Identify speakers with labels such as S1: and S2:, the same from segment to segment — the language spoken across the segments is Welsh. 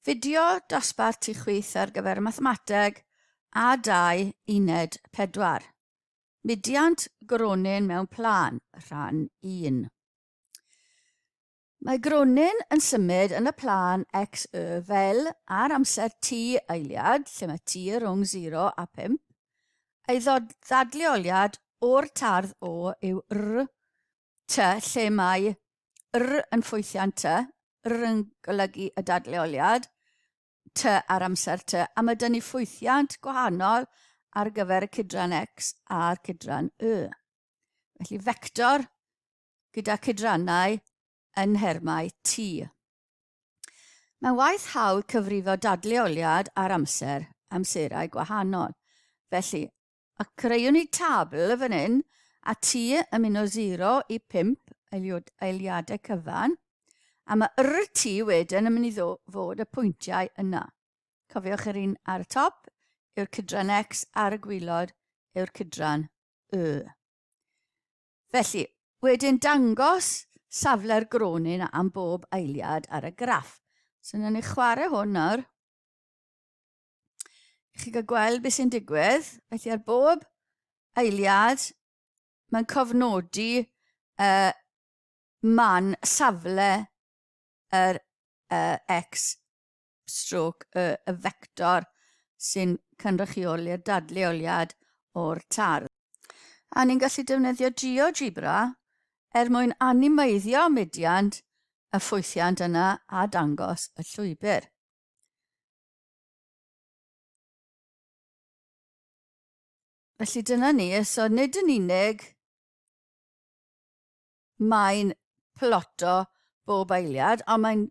S1: Fideo dosbarth tu chwyth ar gyfer y mathemateg a dau uned pedwar. Mudiant gronyn mewn plân, rhan un. Mae gronyn yn symud yn y plân x, y fel ar amser t eiliad, lle mae t rhwng 0 a 5. Ei ddadleoliad o'r tardd o yw r Tŷ, lle mae 'r' yn ffwythiant tŷ, 'r' yn golygu y dadleoliad, tŷ ar amser tŷ, a mae 'da ni ffwythiant gwahanol ar gyfer y cydran X a'r cydran Y. Felly fector gyda cydrannau yn nhermau T. Mae'n waith hawdd cyfrifo dadleoliad ar amser, amserau gwahanol. Felly, A creuwn ni tabl fan hyn a ti yn mynd o 0 i 5 eiliadau cyfan, a mae RT wedyn yn mynd i fod y pwyntiau yna. Cofiwch yr un ar y top yw'r cydran X ar y gwylod yw'r cydran Y. Felly, wedyn dangos safle'r gronyn am bob eiliad ar y graff. So, wnawn ni chwarae hwn nawr. Chi'n cael gweld beth sy'n digwydd. Felly ar bob eiliad, mae'n cofnodi uh, man safle yr uh, X stroke y, y vector sy'n cynrychioli'r dadleoliad o'r tardd. A ni'n gallu defnyddio GeoGebra er mwyn animeiddio mediant y ffwythiant yna a dangos y llwybr. Felly dyna ni, so nid yn unig mae'n ploto bob eiliad, ond mae'n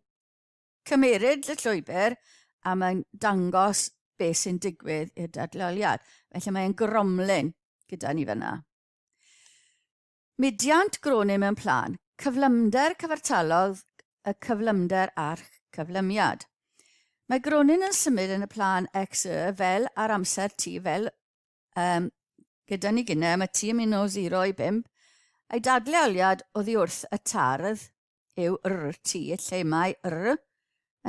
S1: cymeryd y llwybr a mae'n dangos beth sy'n digwydd i'r dadleoliad. Felly mae'n gromlin gyda ni fyna. Mudiant gronni mewn plân, cyflymder cyfartalog y cyflymder a'ch cyflymiad. Mae gronyn yn symud yn y plân x y fel ar amser t fel um, gyda ni gynnau mae t yn mynd o 0 i 5 a'i dadleoliad oddi wrth y tardd yw RT lle mae R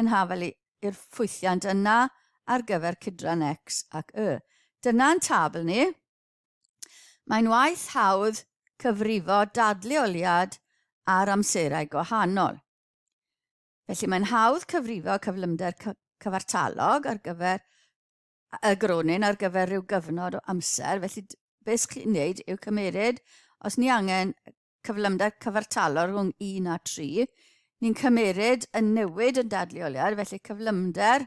S1: yn hafel i'r ffwythiant yna ar gyfer cydran X ac Y. Dyna'n tabl ni. Mae'n waith hawdd cyfrifo dadleoliad ar amserau gwahanol. Felly mae'n hawdd cyfrifo cyflymder cyfartalog ar gyfer y gronyn ar gyfer rhyw gyfnod o amser. Felly beth sy'n chi'n neud yw cymeryd, os ni angen cyflymder cyfartalog rhwng 1 a 3, ni'n cymeryd yn newid yn dadleoliad, felly cyflymder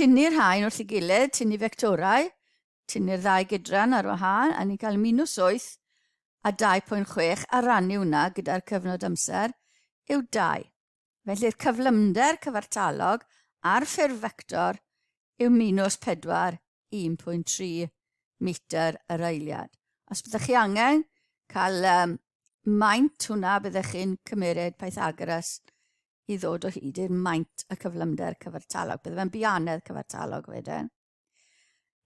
S1: Tynnu'r rhain wrth ei gilydd, tynnu fectorau, tynnu'r ddau gydran ar wahân, a ni'n cael minws 8 a 2.6 a rannu hwnna gyda'r cyfnod amser yw 2. Felly'r cyflymder cyfartalog ar ffurf fector yw minws 4, 1.3 metr yr eiliad. Os byddwch chi angen cael um, maint hwnna, byddwch chi'n cymeryd Pythagoras i ddod o hyd i'r maint y cyflymder cyfartalog. Bydde fe'n bianedd cyfartalog wedyn.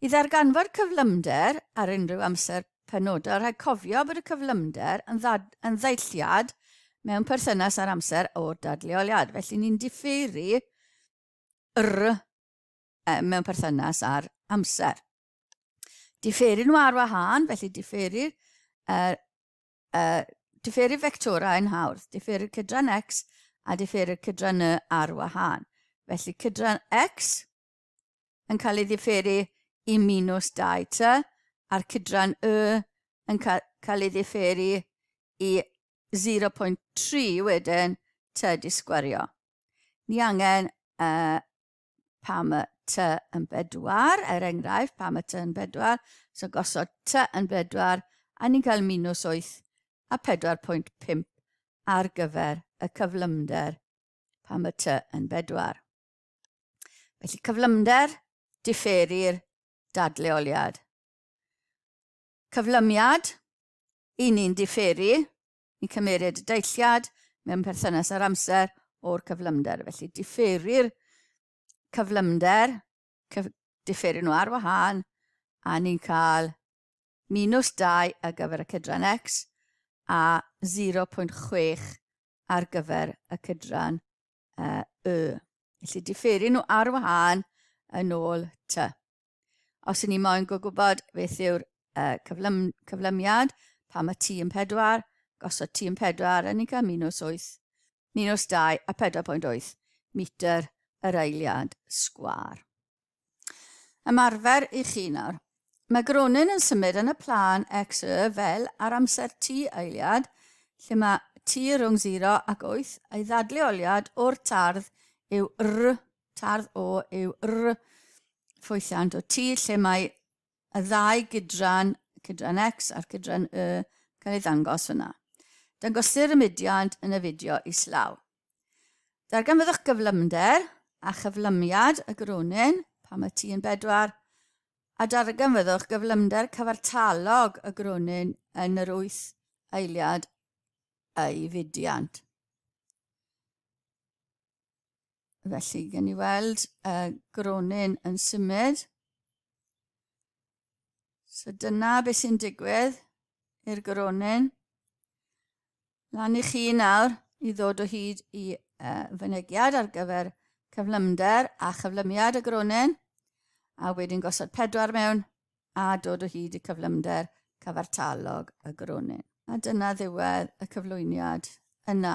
S1: I ddarganfod cyflymder ar unrhyw amser penodol, rhaid cofio bod y cyflymder yn, ddad, yn ddeilliad mewn perthynas â'r amser o'r dadleoliad. Felly ni'n diffeiri yr eh, mewn perthynas â'r amser. Diffeiri nhw ar wahân, felly diffeiri'r er, Uh, diferu fectorau yn hawdd. Diferu cydran x a diferu cydran y ar wahân. Felly cydran x yn cael ei diferu i minus 2t a'r cydran y yn cael ei diferu i 0.3 wedyn t di sgwario. Ni angen uh, pam y ty yn bedwar, er enghraifft, pam y ty yn bedwar, so gosod ty yn bedwar, a ni'n cael minus 8 a 4.5 ar gyfer y cyflymder pam y ty yn bedwar. Felly cyflymder differi'r dadleoliad. Cyflymiad, i ni'n differi, Ni'n cymmeryd y deilliad mewn perthynas â'r amser o'r cyflymder. Felly, differu'r cyflymder, cyf, differu nhw ar wahân, a ni'n cael minus 2 ar gyfer y cydran x a 0.6 ar gyfer y cydran uh, y. Felly, differu nhw ar wahân yn ôl t. Os ni moyn gwybod beth yw'r uh, cyflym, cyflymiad, pam y tîm pedwar, gosod tîm pedwar yn cael minus 8, minus 2 a 4.8 metr yr eiliad sgwar. Ymarfer i chi nawr. Mae Gronin yn symud yn y plan x y fel ar amser T eiliad, lle mae T rhwng 0 ac 8, a'i ddadleoliad o'r tardd yw r Tardd O yw R ffwythiant o tir lle mae y ddau gydran, cydran X a'r cydran Y, cael ei ddangos fyna. Dangosir y mudiad yn y fideo islaw. Darganfyddwch gyflymder a chyflymiad y gronyn pan mae T yn bedwar, a darganfyddwch gyflymder cyfartalog y gronyn yn yr wyth eiliad ei fudiant. Felly, gen i weld y gronyn yn symud. So dyna beth sy'n digwydd i'r gronyn. Lan i chi nawr i ddod o hyd i uh, fynegiad ar gyfer cyflymder a chyflymiad y gronyn, a wedyn gosod pedwar mewn a dod o hyd i cyflymder cyfartalog y gronyn. A dyna ddiwedd y cyflwyniad yna.